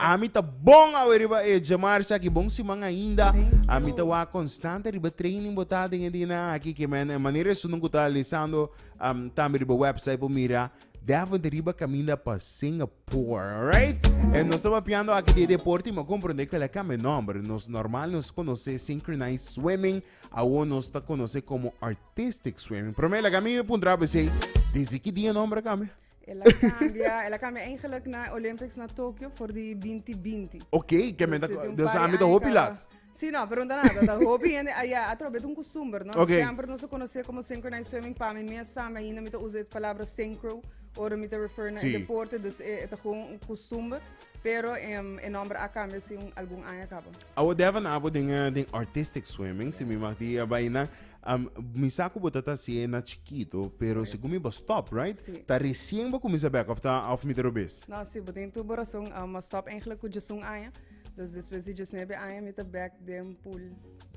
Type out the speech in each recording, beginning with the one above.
Ami ta bon awe riba e djemarcha aki, bon siman ainda. Ami ta wak konstante riba e training bo ta den e dianan aki, ke men e manera esun ku ta lisando um, tambe riba website por mira. Deventer riba kaminda pa Singapore, alright? E nos ta papiando aki di e deporte, mi a komprende ke el a kambia e nòmber. Nos normal nos konosé synchronized swimming, awor nos ta konosé komo artistic swimming. Pero mira, lagami puntra bese, desde ki dia e nòmber a kambia? El a cambia, el a cambia eigenlijk na Olympics na Tokio voor die 2020. Ok, que me da, dus aan met de hopi laat. Sí, no, pregunta nada. Da hopi gente allá a través de un costumbre, no? Okay. Siempre no se conoce como synchronized swimming. Para mí, me sabe ainda me usa esta palabra synchro. Ora me te refer na sí. deporte, dus é, é gewoon un costumbre. Pero um, el nombre a cambia si un, algún año acaba. Awo devan abo den, den artistic swimming, si mi mag di, bijna, Um mi sa ku bo ta ta hasié na chikitu, pero segun mi bo stop, right? Sí. Ta resien bo kuminsá bèk of ta of mi ta robes? No, sí, bo tin tur bo rason. Um a stop eigenlijk ku djesun aña. Dus despues di djesnuebe aña mi ta bèk den pool.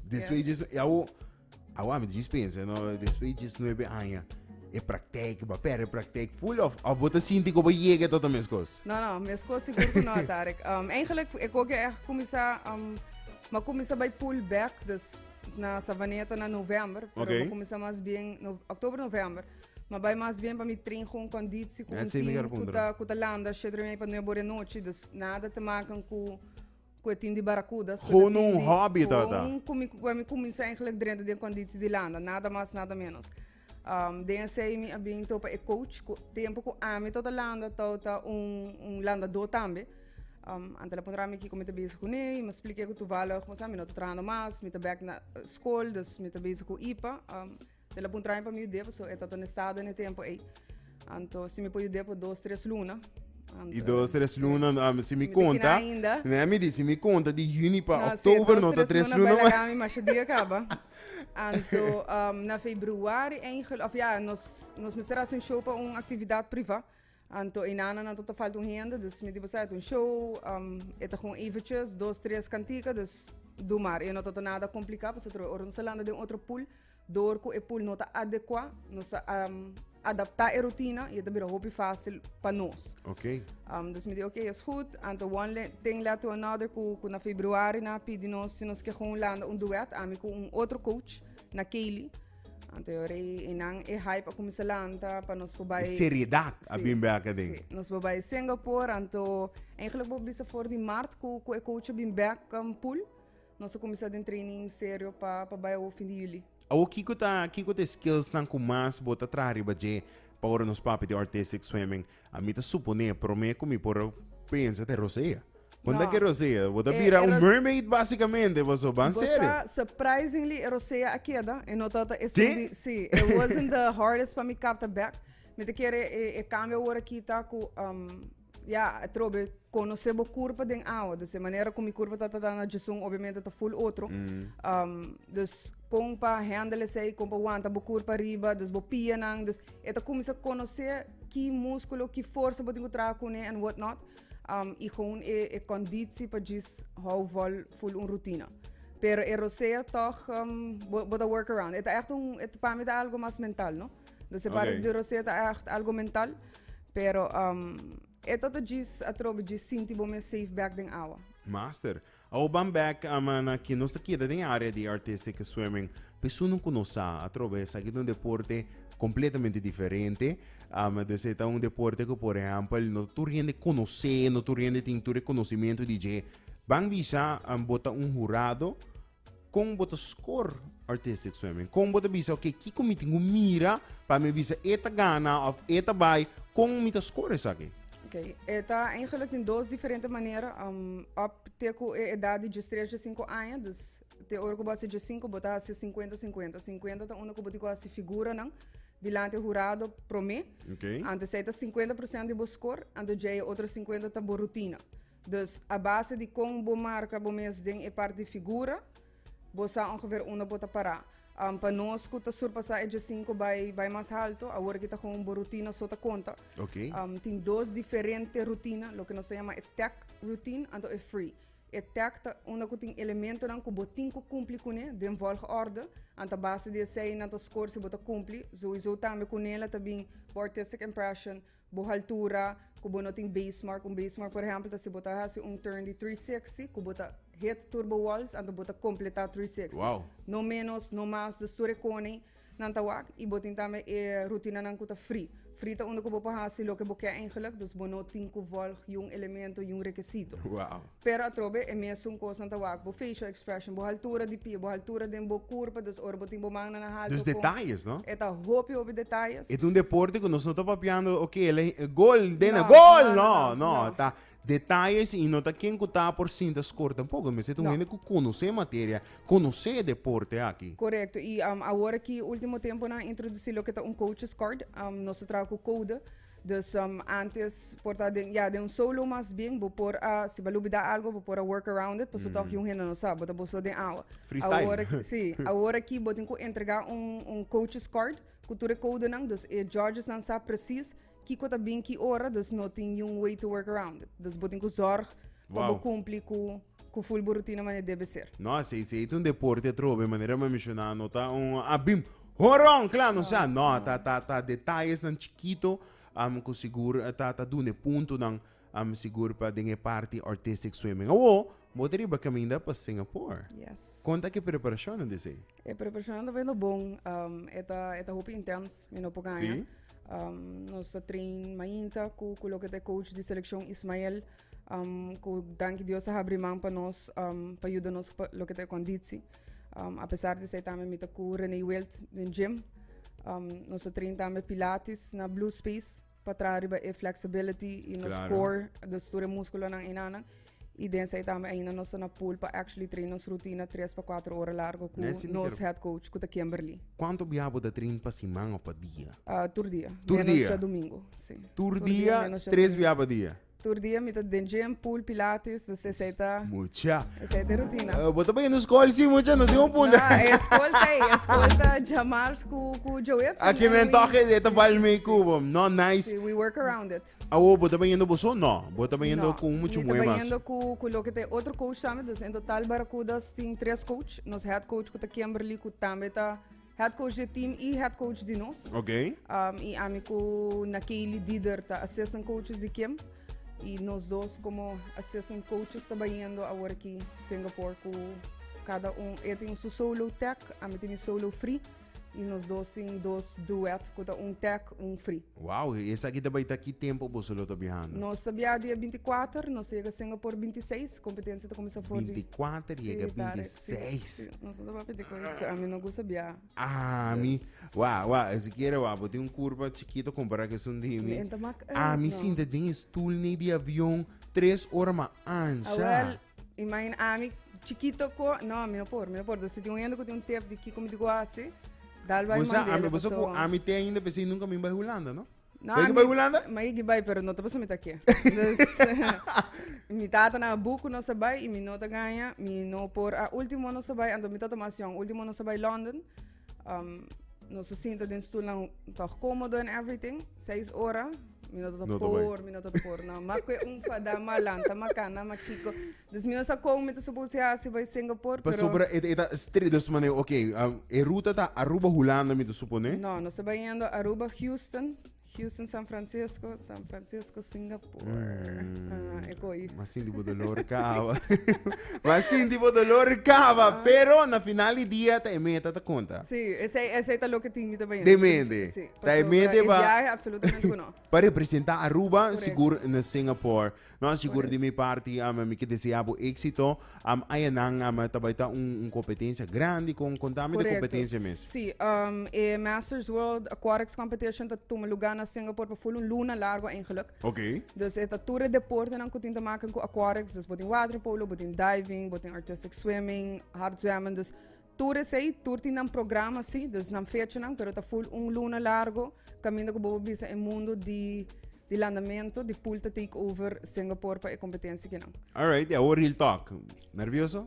Despues di djes- awo awa mi ta djis pensa, no, despues di djesnuebe aña e praktijk, bo a pèrdè e praktijk full of of bo ta sinti ku bo yega e toto meskos? No, no, meskos sigur ku no, Tarek. Um eigenlijk e koke a kuminsá um mi a kuminsá bai pool bèk, dus Na Savaneta na november, pero okay. comienza más bien no, octubre, november. Maar bij maas bien bij mijn train gewoon conditie, gewoon team, kuta, kuta landa, shit mee pa nuevo de noche. Dus nada te maken ku ku het in die barracudas. Gewoon een hobby dat. Gewoon kom ik, kom ik eigenlijk drenta de conditie die landa. Nada más, nada menos. Um, den esei mi a bin topa e coach ku tempo ku ami to ta landa to ta un, un landador tambe um, ante la puntra mi kiko mi ta bezig ku ne i mi splike ku tuvallig mi sa mi no ta trahando mas mi ta bek na eh, skol dus mi ta bezig ku ipa um, de la puntra mi pa mi dep so e ta ta estado ne tempo ei Anto si mi por yud'é por dos tres luna. Y dos tres luna ah, si mi Mi konta. tina ainda. Mira mi di si mi konta di juni pa Na si oktober dos, no ta tres luna luna bai mas. laga mi masha dia kaba. Anto um, na februari einge of ya nos nos mester hasi un show pa un actividad priva. Anto enana nan tota falta un hende dus mi di boso ayta un show um e ta gon eventjes dos tres cantica dus do mar e no tota nada complica pasobra ora nos a landa den otro pool Dor ku e pul no ta adekuá, nos a adaptá e rutina i e ta bira hopi fásil pa nos. Ok. dus mi di ok, es gud. Anto one le, thing led to another ku, ku na februari nan a pidi nos si nos ke kon landa un duet, ami ku un otro coach, na Kaylee. Anto yo rei i nan e hype a kuminsá lanta pa nos por bai. E seriedat a bin bai aka den. Sí, nos por bai Singapore. Anto, eigenlik bo bisa for di mart ku, ku e coach a bin bèk pul. Nos a kuminsá den training serio pa pa bai awor fin di juli. Awor kiko ta kiko ta e skillsnan ku mas bo ta traha riba dje pa ora nos papia di artistic swimming? A mi ta suponé promé ku mi por pensa ta e rosea. Bon ta No. ke rosea? Bo ta E- bira e un ros- mermaid basikamente paso ban Bo serio. sa, surprisingly e rosea a keda e no tabata esun Sí? di si e wasn't the hardest pa mi kapta bek. Mi ta kere e e kambio awor a kita ku um Ya trobe conoce bo curpa den awa. Dus e manera cu mi curpa ta trata na Jesun obviamente ta full otro. Um, dus con pa handle esey, con pa wanta bo curpa riba, dus bo pia nan. Dus e ta cuminsa conoce ki musculo, ki forza bo tin cu traha cune and what not. Um, y gewoon e, e conditie pa djis hou vol full un rutina. Pero e rosea toch, um, bo, bo ta work around. E ta echt un, e ta- pa mi ta algo mas mental, no? Dus e parte di Rosé ta echt algo mental. Pero um, e toto djis atrobe djis sinti bo mes safe back den awa. Master. Awo ban back ama na ki nos ta keda den area di artistic swimming. Pesunan ku nos sa atrobe sa ki un deporte completamente diferente. Um, dus e ta un deporte ku por ejempel no tur hende konosé, no tur hende tin tur e conocimiento di dje. Ban bisa um, bota un jurado Kon bo ta skor artistic swimming? Kon bo ta bisa, ok, kiko mi tin ku mira pa mi bisa e ta gana of e ta bai? Kon mi ta skor esaki? Ok, e ta eigenlijk tin dos diferente manera. Um, op te ku e edad di djes tres, djes sinku aña, dus te ora ku bo hasi djes sinku, bo ta hasi sinkuenta sinkuenta. Sinkuenta ta unda ku bo tin ku hasi figuranan dilanti hurado promé. Ok. Anto esei ta sinkuenta por sènt di bo skor, anto dje e otro sinkuenta ta bo rutina. Dus, a base di kon bo marka bo mes den e parti figura, bo sa ongever unda bo ta pará. Pa nos ku ta surpasá e djasinku bai bai mas haltu, awor aki ta kon bo rutina so ta konta. Ok. Tin dos diferente rutina, loke nos ta yama e tèk routine anto e free. E tèk ta unda ku tin elementonan ku bo tin ku kumpli kuné den vòlgòrdu, anto a base di esei nan ta skor si bo ta kumpli. Souizou tambe ku Nela ta bin bo artistic impression, Bo haltura ku bo no tin base mark. Un base mark por ehèmpel ta si bo ta hasi un turn di three sixty ku bo ta hit tur bo walls anto bo ta kompletá three sixty. Wow. No ménos, no más. Dus tur e kone nan ta wak i bo tin tambe e rutinanan ku ta free. Free ta unda ku bo por hasi loke bo ke eingelik, dus bo no tin ku vòlg yun elemento, yun rekesito. Wow. Pero atrobe e mesun kosnan ta wak. Bo facial expression, bo haltura di pie, bo haltura den bo kurpa, dus ora bo tin bo mannan na haltu Dus kon. detayes, no? E ta hopi hopi detayes. E ta un deporte ku nos no ta papiando, oke, el a hi- gol, dena, No, gol! no, no, No, no, no. e ta detayes i no ta ken ku ta por sinta skor tampoco. Mester ta un No. hende ku konosé e materia, konosé e deporte aki. Korekto. I am awor aki ultimo temponan introdusí loke ta un coaches card. Am nos ta traha ku koude. Dus antes por ta den ya den un solo mas bien bo por a si bo a lubida algo bo por a work around it paso tog un hende no sa bo ta boso den awa Freestyle. awor aki si awor aki bo tin ku entrega un un coaches card ku tur e kodenan dus e judges nan sa presis kiko ta bin ki ora dus no tin niun way to work around it dus bo tin ku zorg pa bo Wow. kumpli ku Cu full burutina mane debe ser. No, esey esey ta un deporte atrobe, manera mi a menciona, no ta un a bim horon cla, no sea, no, ta ta ta detayesnan chikito am cu sigur ta ta dun'e puntonan am sigur pa den e parti artistic swimming. Awo bo ta riba caminda pa Singapore, Yes. con ta cu e preparacionnan di esey? E preparacionnan ta yendo bon, am e ta e ta hopi intens, mi no por gana. Si. Am nos ta train mainta cu cu loke ta e coach di seleccion Ismael, ku danki Dios a habri man pa nos pa yuda nos ku loke ta e konditsi. apesar di esei tambe mi ta ku Renee Wilt den gym. nos ta train tambe pilates na Blue Space pa traha riba e flexibility i nos Claro. core, dus tur e muskulonan einanan. I den esei tambe ainda nos ta na pool pa actually train nos rutina tres pa kuater ora largu ku Nancy, mi nos ker- head coach ku ta Kimberly. Kuantu biaha bo ta train pa siman of pa dia? Ah, tur dia. Tur menos dia? dja domingo. Sí. Tur dia, menos dja tres domingo. biaha pa dia? Tur dia mi ta den gym, pool, pilates, dus esei ta, Mucha. esei ta e rutina. Eh, Bo ta bay no school sí, mucha, no sin un punto. Na, e school ta ei, e school ta Jamars ku, ku Joe Edson. Aquí and men we- toque de si, ta bal si, mee si. Cuba. No nice. Si, we work around it. Awo bo ta bayendo bo so? No. Bo ta bayendo No, con mucho mi ta mue mas. bayendo ku, ku loke ta e otro coach tambe, dus en total Barracudas tin tres coach. Nos head coach ku ta Kimberly ku tambe ta Head coach de team y head coach di nos. Ok. Um, y ami cu Nakeli Dider ta assistant coaches di Kim. Y nos dos como assistant coaches ta bayendo ahora aquí Singapore cu cada un, e tiene su solo tech, ami tiene solo free. Y nos dos sin dos duet, cu ta un tech, un free. Wow, e esaki ta bai ta ki tempo boso lo ta biahando? Nos ta biaha dia binti kuater, nos ta yega Singa por binti seis, kompetensia ta kuminsá for di. Binti kuater Si, yega tari. binti Si, seis. si. Nos no ta papia di kos así. Ami no gusta biaha. Ami, wa, wa, sikiera wa, bo tin un kurpa chikito kompará ku esun di mi. Di enta mak, eh, Ami no. sinta den e stul nei di avion tres ora ma ansha. Awel, Imagina ami chikito ko no mi no por mi no por si tin un hende ku tin un tep di kiko mi digo asi dal bai Bosa mandele ami bosa ku paso ami te ainda pesi nunca mi bai Hulanda, no? No, Bai ki ami- bai Hulanda? Ma yiki bai pero no ta paso mi ta ke dus mi tatanan a buku nos a bai i mi no ta gaña mi no por a ultimo nos a bai anto mi ta tuma asion ultimo nos a bai London Um, nos sinta den stoelnan toch komodo en everything. Seis ora. Mi no tot por, mi no tot por. No, ma kwe un fada malanta, ma kana, ma kiko. Dus mi osa kom met so busi hasi by Singapore, pero... Pasobra et eta street dus mane, okay, um, e ruta ta Aruba Hulanda mi te supone? No, no se bayendo Aruba Houston. Houston San Francisco, San Francisco Singapore. Mm. Ah, e koi. Mas sinti bo dolor kaba. Mas sinti bo dolor kaba. Ah. Pero na final di dia ta e meta ta konta. Si, ese, ese ta lo ke tin mi ta bayen. Demende. Si, ta e meta ba. E viaje absolutamente no. Pa representa Aruba, sigur na Singapore. No sigur di mi parti am mi ke desea bo éxito am aya nan am ta bai ta un un competencia grandi con contami de competencia mes. Correcto. Sí, um, e Masters World Aquatics Competition ta tuma lugar na Singapore pa full un luna largo eigenlijk. Okay. Dus e ta tur e deportenan ku tin te maken ku aquatics, dus bo tin waterpolo, bo tin diving, bo tin artistic swimming, hard zwemmen, dus Tur esei, tur tin nan programa si, dus nan fechanan, pero ta full un luna largo, kaminda ku bo por bisa e mundu di di landamentu, di pool ta take over Singapore pa e kompetensi kinan. Alright, ya hoor real talk. Nervioso?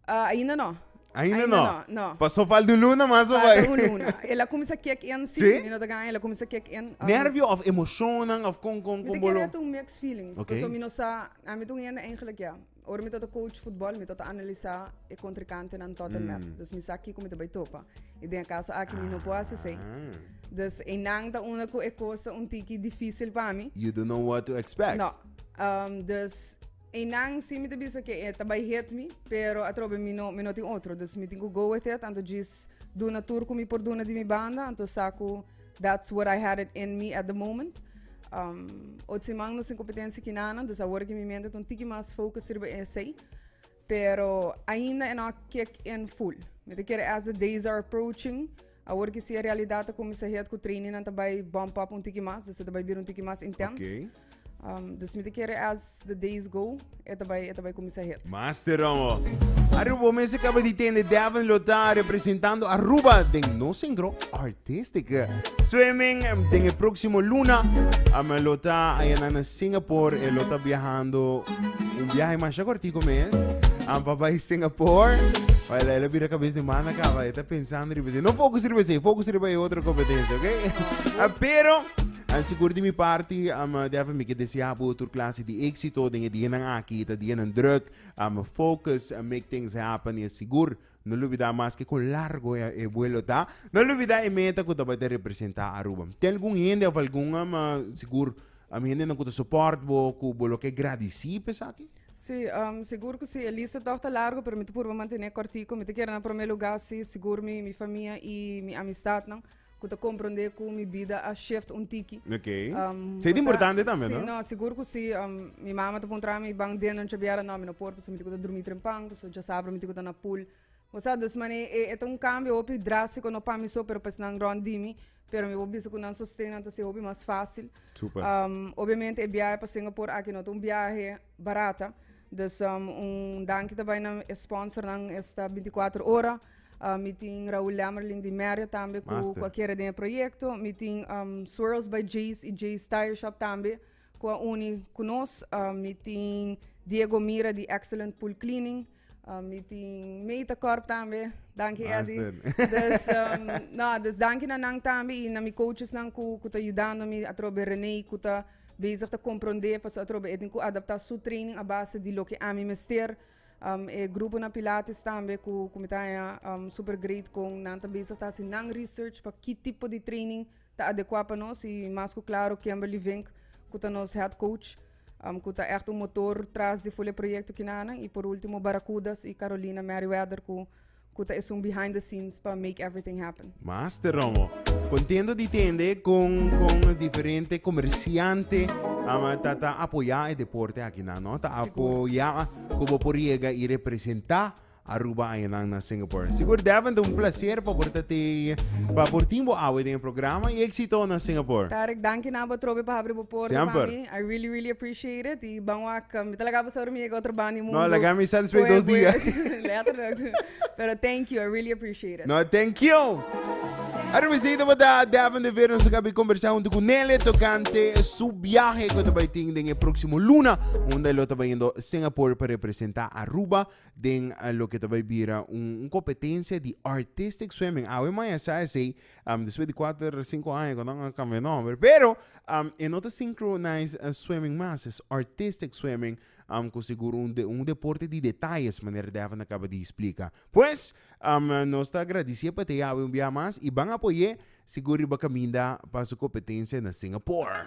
Ah, ainda no. Ainda Ainda no. no, no. Pa so falta un luna mas pa Falta bai. un luna. El a kumsa kek in, si, Sí? mi no ta gan, el a kumsa kek in. um, Nervio of emoshonan of kon kon Mi kon te bolo. kere ta un mixed feelings, Ok. paso mi no sa, ami ta un hende eigenlijk ya, Ora mi ta ta coach futbol, mi ta ta analisá e contrincantenan tot en mm. mef. Dus mi sa kiko mi ta bai topa. I den caso aki ah. mi no po hace sei. Dus e nan ta una ku e cosa un tiki difícil pa mi. You don't know what to expect. No. Um, dus e nan si mi ta bisa ke e ta bai hit mi, pero atrobe mi no, mi no tin otro. Dus mi tin ku go with it, anto jis duna tur ku mi por duna di mi banda, anto saku That's what I had it in me at the moment. Um, ot siman nos tin competencia kinanan, dus awor ki mi mente ton tiki mas focus riba esey. Pero ainda e no kick in full. Mi te kere as the days are approaching, awor ki si e realidad ta comisa head ku training nan ta bai bump up un tiki mas, dus ta bai bira un tiki mas intens. Okay. Um, dus mi te kere as the days go, e ta bai, e ta bai kumisa hit. Master Romo. Arubo mes acaba de tende Devin Lotar representando Aruba den no singro artistic swimming den el próximo luna. Ama Lota allá na Singapore e Lota viajando un viaje más cortico mes. Am papá in Singapore. Vai lá, ele vira a cabeça de mana acaba, ele tá pensando riba, no focus riba, focus riba e outra competencia, ok? Pero An sigur di mi parti, am Devin mi ke deseá bo tur klase di éksito den e dianan aki. Ta dianan drùk, am focus and make things happen i a sigur. No lubidá maske kon largo e buelo ta, no lubidá e meta ku tabata e representá Aruba. Tin algun hende òf algun am sigur am hendenan ku ta sopòrt bo ku bo lo ke gradisí pa esaki? Sí, am sigur ku sí. E lista tòg ta largo pero mi ta purba mantené kòrtiku. Mi ta kere na promé lugá, sí, sigur mi mi famia i mi amistat nan. Cu ta comprende cu mi bida a shift un tiki. Ok. Um, Sei o sea, importante también, sí, no? no, seguro que sí. Um, mi mama te puntra mi ban den noche biara, no, mi no por, pues mi tico ta dormi trempan, pues ya sabra mi tico ta na pool. O sea, dus mane, e, e ta un cambio hopi drástico, no pa mi so, pero pues nan rond di mi. Pero mi bo bisa cu nan sosten, nan ta ser hopi mas fácil. Super. Um, obviamente, e viaje pa Singapore, aki no ta un viaje barata dus un danki ta bai na e sponsor nan e sta 24 ora uh, mi tin Raúl Lemmerling di Merja tambe ku Master. ku a kere den e proyekto mi tin um, Swirls by Jace i Jace Tire Shop tambe ku a uni ku nos uh, mi tin Diego Mira di Excellent Pool Cleaning Um, mi tin meta corp tambe. Danki ah, Eddie. Dus, um, no, dus danki na nan tambe y na mi coaches nan ku, ku ta ayudando mi atrobe René ku ta bezig ta comprende paso atrobe etin ku adapta su training a base di loke ami mester. Um, e grupo na Pilates tambe ku, ku mi ta um, super great kon nan ta bezig ta hasi nan research pa ki tipo di training Ta adekua pa nos y mas cu claro Kimberly Vink cu ta nos head coach cu ta echt un motor tras di ful e proyecto kinanan y por ultimo Barracudas y Carolina Merryweather cu cu ta esun behind the scenes pa make everything happen. Master Romo. Contento di tende con con diferente comerciante ama ta ta apoya e deporte aki nan no ta apoya cu bo por yega y representa Aruba añanan na Singapore. Sigur Deventer un placer pa por ta te pa por tin bo awe den e programa y exito na Singapore. Tarek danki na bo trobe pa habri bo porta pa Semper. mi. I really really appreciate it. Y ban wak, mi ta laga bo sa ora mi yega otro banda di mundo. No, laga mi satisfecho Boe, dos boe. dia. Letterlijk. Pero thank you, I really appreciate it. No, thank you. Aruba exito pa ta Deventer Vera nos a kabi conversa hunto cu Nele tocante su biahe cu ta bay tin den e proximo luna unda e lo ta bay yendo Singapore pa representa Aruba den loke ta bay bira un un competencia di artistic swimming awe maya sa esey um despues di cuater cinco aña cuando nan a cambia nomber pero um e no ta syncronise swimming mas es artistic swimming um cu seguro un de un deporte di detalles manera Davin a caba di explica pues um nos ta agradece pa te yawe un bia mas y ban apoye seguro y ba caminda pa su competencia na Singapore.